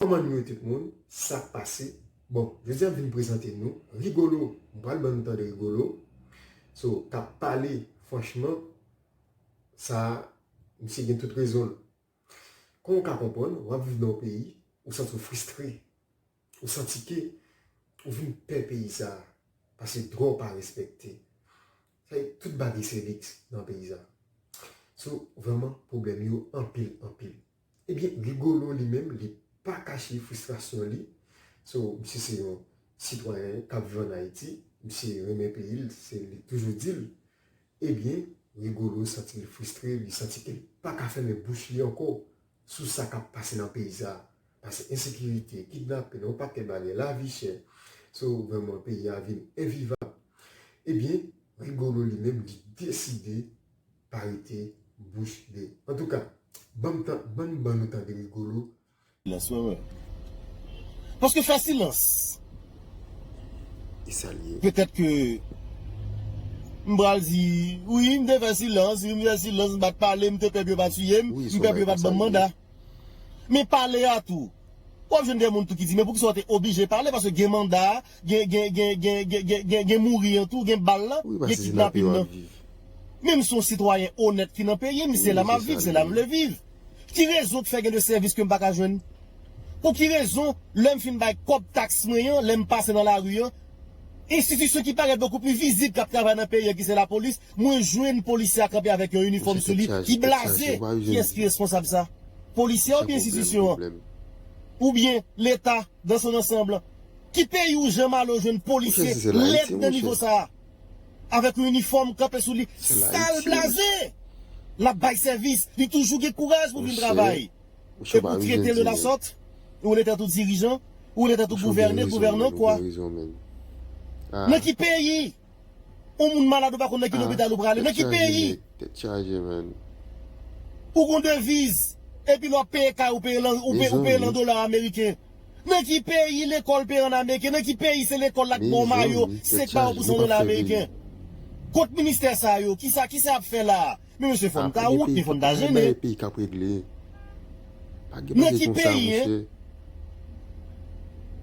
Koman nou ye tout moun, sak pase, bon jodi a m vin prezante nou Rigolo, m pral ban nou tande Rigolo so kap pale franchman sa misye gen tout rezon l. Kon w ka konprann wap viv nan yon peyi ou santi w fristre, ou santi ke ou vin pè peyi sa pase dwa w pa respekte, se tout bagay se liks nan peyi sa so vrèman pwoblèm yo anpil anpil. Ebyen Rigolo li menm li pa kache fristrasyon li, so misye se yon sitwayen kap viv an Ayiti, misye renmen peyi l, se li toujou di l, ebyen Rigolo santi l fristre, li santi ke l pa ka fèmen bouch li ankò sou sa kap pase nan peyi sa, pase ensekirite, kidnapin, yon pakèt bagay, lavi chè, so vrèman peyi a vin envivab, ebyen Rigolo li menm li deside. pa rete bouch be. Antouka banm tan banm ban nou tande Rigolo. Silans wè wè. Paske fè silans. E sa l ye. Petèt ke m pral di wi m te fè silans wi m fè silans m pat pale m te pè pou yo pa tiye m m pè pou yo pat banm manda. Men pale a tou. Wap jwenn de moun tou ki di men poukisa w te oblije pale paske gen manda a Gen gen gen gen gen gen gen gen mouri an tou gen bal lan gen kidnapin nan menm son sitwayen onèt ki nan peyim se la map viv se la mvle viv ki rezon ki fè gen de sèvis kem paka jwenn pou ki rezon lèm fin bay kòb taks mwen an lèm pase nan lari an enstitisyon ki parèt bokou pli vizib kap travay nan peyi an ki se la polis mwen jwenn polisye a kanpe avèk yon inifòm sou li ki blaze kiyès ki responsab sa polisye a oubyen enstitisyon an oubyen leta dans son ansanb. Ki peyi ou Jean Malo jwenn polisye lèd nan nivo sa a? Avèk yon inifòm kanpe sou li sal blaze! L ap bay sèvis, li toujou gen kouraj pou vin travay. Epi ou trete l de lasòt? Ou rele tèt ou dirijan? Ou rele tèt ou gouvène, gouvènan kwa? Nan ki peyi? On moun malad ou pa konn nan ki lopital ou prale, nan ki peyi. Tèt chaje man. Ou gon deviz, epi lè wap peye kay ou peye l an dola ameriken. Nan ki peyi lekòl peye an ameriken, nan ki peyi se lekòl la k ba w mayo, se k ba w pou 100 dola ameriken. Kot ministè sa yo, kisa yap fè la a. Men mesye fòn ta wont, men fòn ta jennen. Pa gen bagay peyi kap regle. Pa gen bagay konsa mesye.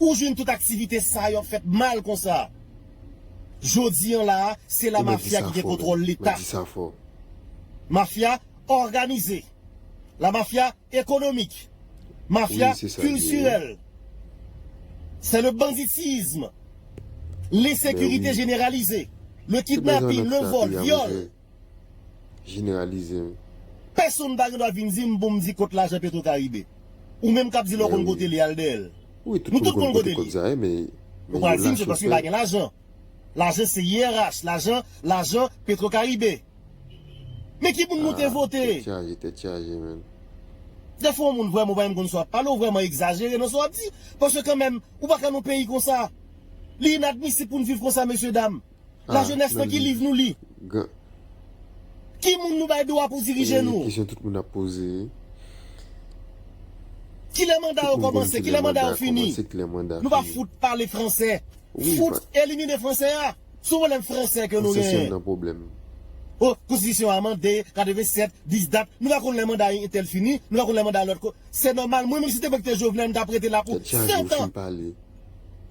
Ou jwenn tout aktivite sa yo ap fèt mal konsa. Jodi an la a, se la mafya ki gen kontwòl Leta. Mafya òganize. La mafya ekonomik. Mafya kiltirèl. Se le banditisme. L'insekirite jeneralize. Le kidnapin, le vòl, vyòl. jeneralize wi. Pèsonn pa gen dwa vin di m pou m di kot lajan petro karibe. Ou menm k ap di lè w konn kote li al dèyè l. Nou tout konn kote li. Ou pral di m se paske pa gen lajan. Lajan se IRH, lajan, lajan petro karibe. Men ki moun nou te vote? Tèt chaje, tèt chaje menn. Dèfwa w moun vrèman ou pa menm konn sa w ap pale, ou vrèman egzajere nan sa w ap di. Paske kanmenm, ou pa ka nan yon peyi konsa. Li inadmisib pou n viv konsa mesye dam. La jeunesse nan ki liv nou li? Ki moun nou bay dwa pou dirije nou? Kilè manda yo komanse? Kilè manda yo fini? Nou pa fout pale fransè. Fout elimine fransè a. Se yon pwoblèm fransè ke nou genyen. O, konstitisyon a mande 87, 10 dat. Nou pa konn lè manda yon entèl fini. Nou pa konn lè manda lòt. Se nòmal mwen menm si se te mwen ki te Jovenel m ta prete la pou 7 an.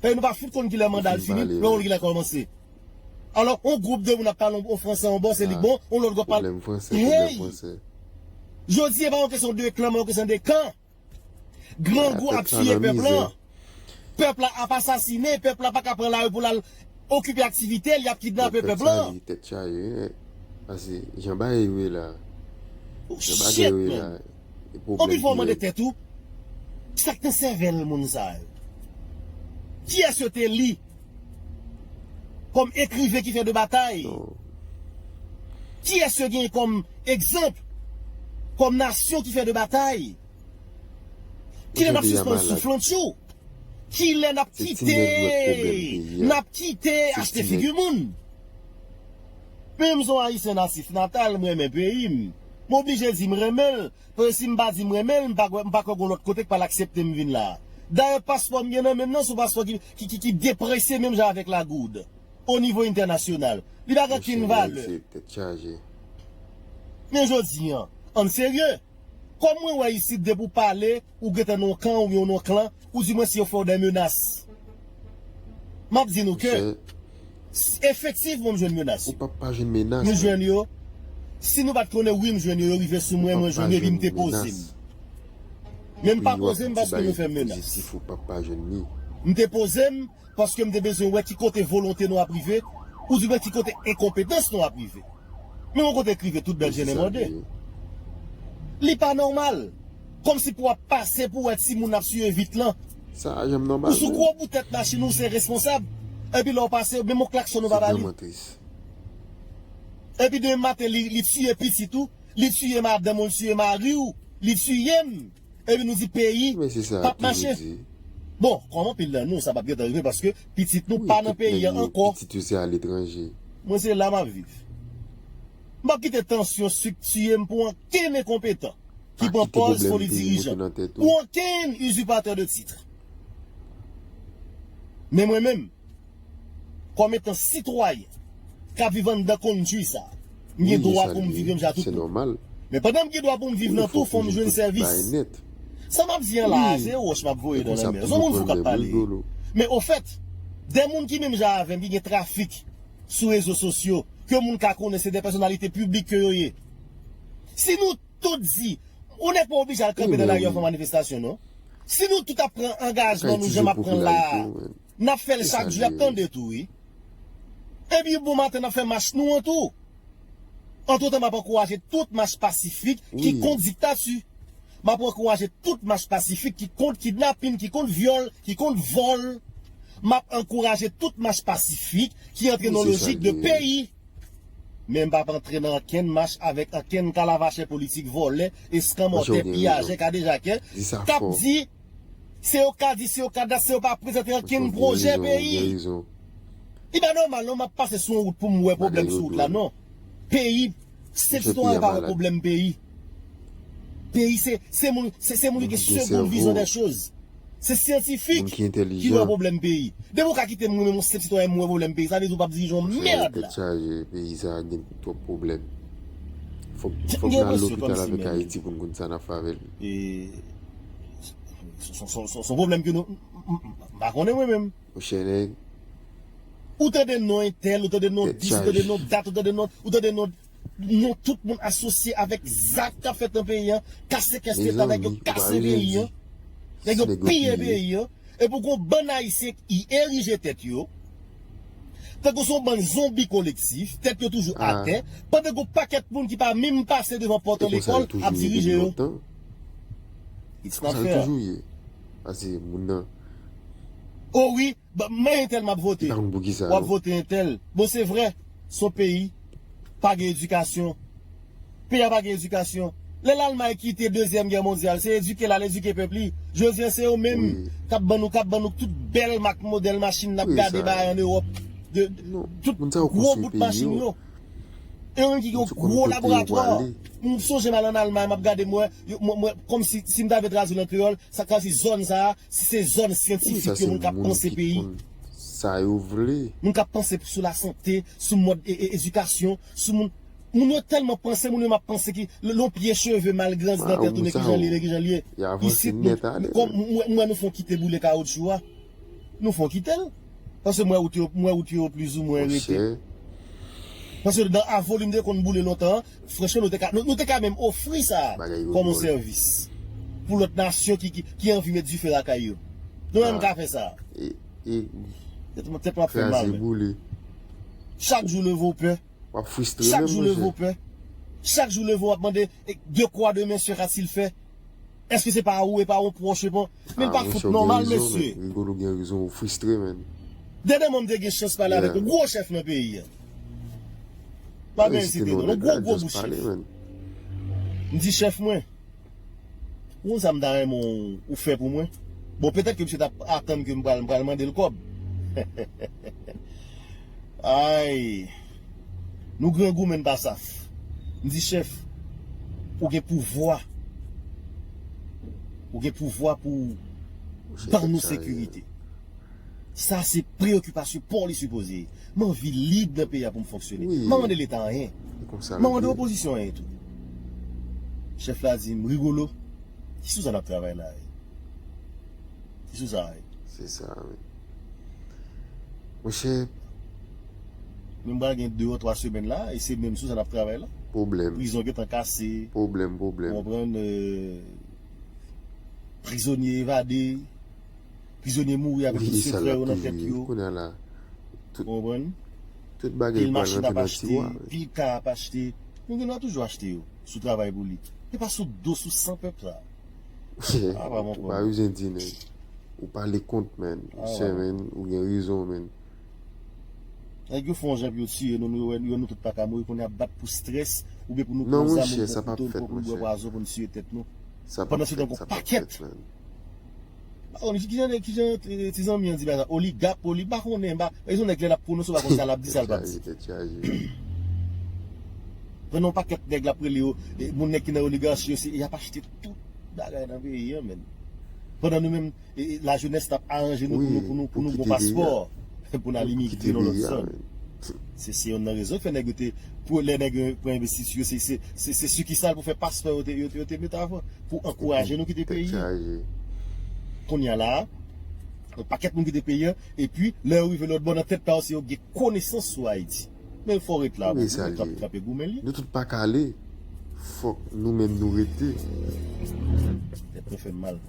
Pèyi nou pa fout konn kilè manda l fini, lò wòl kilè kòmanse. Alò, yon gwoup de moun ap pale yon franse yon bò, se li k bon, yon lòt gwoup ap pale. Pwoblèm franse, pwoblèm franse. Hey! Jodi e pa yon kesyon de klan men yon kesyon de kan. Grangou ap tiye pèp lan. Pèp la ap asasinen, pèp la pa ka pran lari pou l al okipe aktivite l, y ap kidnape pèp lan. Tèt chaje, tèt chaje. Pase, jan bagay yo ye la, jan bagay yo ye la. E pwoblèm ki gen. Okipe w mande tèt ou, sa k nan sèvèl moun sa yo? Kiyès yo te li kòm ekriven ki fè de batay? Kiyès yo gen kòm egzanp kòm nasyon ki fè de batay? Kilè n ap sispann souflantchou? Kilè n ap kite n ap kite achte figi moun? Pu m son ayisyen nasif natal m renmen peyi m m oblije di m renmen l paske si m pa di m renmen l m pa kwè m pa kwè gon lòt kote k pral aksepte m vin la dayè paspò m gen nan men m nan s on paspò ki ki depresye menm jan avèk la goud o nivo entènasyonal li pa gen kenn valè. Mesye nèg se tèt chaje. Men jodi an, ann serye! Kòm mwen wè isit depi w pale ou gentan nan yon kan oubyen w nan yon klan ou di mwen si yo fè w dè menas. M ap di nou ke efektivman m jwenn menas yo. Nou jwenn yo. Si nou pa t konnen wi m jwenn yo, yo rive sou mwen, mwen jwenn yo epi m depoze m. Men m pa poze m paske mwen fè menas. M depoze m. paske m te bezwen wè ki kote volonte nou ap rive, oudibyen ki kote enkonpetans nou ap rive. Men yon kote k rive tout bèl jennen mòde. Li pa nòmal! Kòmsi pou w ap pase pou wè timoun ap siye vit lan. Sa pa janm nòmal menm. Ou sou gwo bout tèt machin ou se responsab, epi lè w pase, menm yon klaksòn ou pa ba li. Se vrèman tris. Epi demen maten li tiye pitit ou, li tiye madanm ou, li tiye mari ou, li tiye m. Epi nou di peyi pap mache. Bon, kòm anpil nan nou sa pap gentan rive paske pitit nou pa nan peyi an ankò. Mwen se la map viv. M pap kite tansyon sik tiye m pou ankenn enkonpetan ki pran pòz foli dirijan, pou ankenn izipatè de titre. Men mwen menm. Kòm etan sitwayen k ap viv anndan kondtui sa, m gen dwa pou m viv yon jan a tout bon. Men pandan m gen dwa pou m viv nan tou, fò m jwenn sèvis. Sa m ap di an la a, se yon wòch m ap voye nan lanmè. S on moun fou k ap pale. Men ofèt, de moun ki menm jan avè m, ki gen trafik sou rezo sosyo, ke moun ka konnen se de pèsonalite piblik ke yo ye. Si nou tout di, yon nèg pa oblije al kanpe nan lari an fè manifestasyon non. Si nou tout ap pran angajman nou jan m ap pran l la a, Nap fel chak jou yap tande tou wi. Ebyen bon maten nap fè mach nou an tou. Antretan map ankouraje tout mach pasifik ki kont diktati. Map ankouraje tout mach pasifik ki kont kidnapin, ki kont vyol, ki kont vol. Map ankouraje tout mach pasifik ki antre nan lojik de peyi. Men mpap antre nan ankenn mach avek ankenn kalavachè politik volè, eskanmòtè, piyajè, kadejakè kap di. Se yo ka di, se yo ka dat, se yo pa prezante ankenn pwojè peyi. Li pa nòmal non, m ap pase sou yon wout pou m wè pwoblèm sou wout la non. Peyi, se sitwayen pa wè pwoblèm peyi. Peyi se, se moun, se se moun ki gen segond vizyon dè choz. Se syantifik ki wè pwoblèm peyi. Depi w ka kite m mwen menm yon senp sitwayen m wè pwoblèm peyi, sa vle di w pa ap dirije yon mèrd la. M gen enpresyon kòmsi menm. Son pwoblèm ke nou M pa konnen mwen menm. Mon chè nèg. Ou tande non entèl, ou tande non dis, ou tande non dat, ou tande non, ou tande non Non tout moun asosye avèk zak kap fèt nan peyi an, kase kès leta, nèg yo kase peyi an, nèg yo piye peyi an, epi w gon bann ayisyen ki erije tèt yo, tankou son bann zonbi kolektif, tèt yo toujou atè, pandan gon pakèt moun ki pa minm pase devan pòt yon lekòl ap dirije yo. It's my fair. Oh wi, men entèl map vote. Wap vote entèl. Bon se vre, son peyi pa gen edikasyon. Peyi a pa gen edikasyon. Lè Lalmay kite dezyèm gè mondyal, se edike lal edike pèp li. Jodi an se yo menm kap ban nou kap ban nou tout bèl mak modèl machin nap gade bay an Ewòp. Tout gwo bout machin yo. E menm ki gen yon gwo laboratwa. M sonje m al an Almay m ap gade m wè, m wè kòmsi si m ta vle tradui l an kreyòl, sa ta di zòn sa a, si se zòn syantifik yo, moun k ap panse peyi, moun k ap panse sou lasante, sou mòd edikasyon, sou moun. Moun yo tèlman panse, moun yo menm ap panse ki lè yon pye cheve mal grandi nan tèt ou men ki jan l ye, men ki jan l ye. Isit nou, m wè nou fè yon kite boule kawotchou a. Nou fè yon kite l. Paske m wè wout yo, m wè wout yo plis ou mwen rete. Paske dan Avonlin te konn boule lontan an, franchman nou te ka, nou te ka menm ofri sa a kòm yon sèvis pou lòt nasyon ki anvi met dife lakay yo. Nou menm ka fè sa a. Tèt m ap fè mal menm. Chak jou leve w pè. W ap fristre menm monchè. Chak jou leve w pè. Chak jou leve w ap mande dekwa demen sè Katil fè. Eske se pa ou e pa yon pwòch e pa yon. Min pa fout nòmal mesye. Rigolo gen rezon ou fristre menn. Dede mwen m te gen chans pale avek yon gwo chef nan peyi an. Pa gen site non. Yon gwo gwo bouch chef. M di chef mwen. Ou konn sa m ta renmen ou fè pou mwen? Bon petèt ke misye tap atann ke m pral mandel kòb. Ayy. Nou grangou men n pa saf. M di chèf ou gen pouvwa ou gen pouvwa pou w ban nou sekirite. Sa se preyokipasyon paw li sipoze ye. M anvi lib nan peyi a pou m fonksyone. M pa mande leta anyen. M pa mande opozisyon anyen tou. Chèf la di m Rigolo, se sou sa n ap travay la a. Se sou sa a wi. Se sa a wi. Monchè. Nou pral gen 2 or 3 semèn la e se menm sou sa nap travay la. Pwoblèm. Prizon gentan kase. Pwoblèm, pwoblèm. Ou konprann? Prizonye evade. Prizonye mouri avèk tout sekrè yo nan tèt yo. Kounya la. Ou konprann? Tout bagay pral rantre nan tiwa. Pil ka ap achte. Nou gen dwa toujou achte yo. Sou travay pou li. E pa sou do, sou san pèp la. A pa mon frè. Ou pa usen di nèg. Ou pale kont menn. Ou sè menn. Ou gen rezon menn. Nèg yo fè yon jan pou yo tiye nou, nou wè nou tout pa ka mouri pou nou ap bat pou strès oubyen pou nou pran zam oubyen pran kouto oubyen pou nou bwè pwazon pou nou tiye tèt nou. Pandan se tan gon pakèt. Mpa konn ki jan ki jan ti zanmi an di bagay la. Oligap, oli, mpa konnen. Gen yon nèg lè lap pwononse ou pa konn sa lap di, sa l pap di. Pandan yon pakèt nèg lap rele yo, moun nèg ki nan oligarchi yo se yap achte tout bagay nan peyi an menn. Pandan nou menm La jeunesse tap aranje nou pou nou pou nou gon paspò pou n al imigre nan lòt zòn se se yonn nan rezon ki fè nèg yo te pou lè nèg yo pran envestiti yo se se se sikisal pou fè paspò yo te yo te mete avan pou ankouraje nou kite peyi an kounye a la a yon pakèt moun kite peyi an epi lè yo rive lòtbò nan tèt pa yo se yo ki gen konesans sou Ayiti men l fò ret la bon nou menm k ape goumen li nou tout pa ka ale fòk nou menm nou rete tèt nou fè n mal.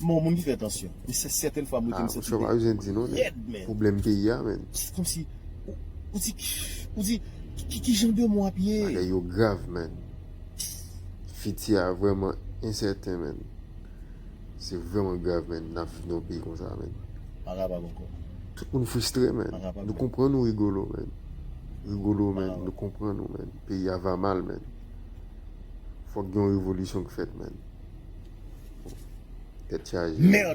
M'en moun ki fè tansyon. Men se sèten fwa m rete m santi bèk mwen lèd men. Pwoblèm peyi ya men. Se komsi ou di ou di ki jan de mou ap ye. Bagay yo grav men. Fiti ya vreman ensèten men. Se vreman grav men nap viv nan yon peyi konsa men. Pa kapab ankò. Tout moun fristre men. Nou konprann ou Rigolo men. Rigolo men nou konprann ou men. peyi a va mal menn fòk gen yon revolisyon ki fèt menn tèt chaje.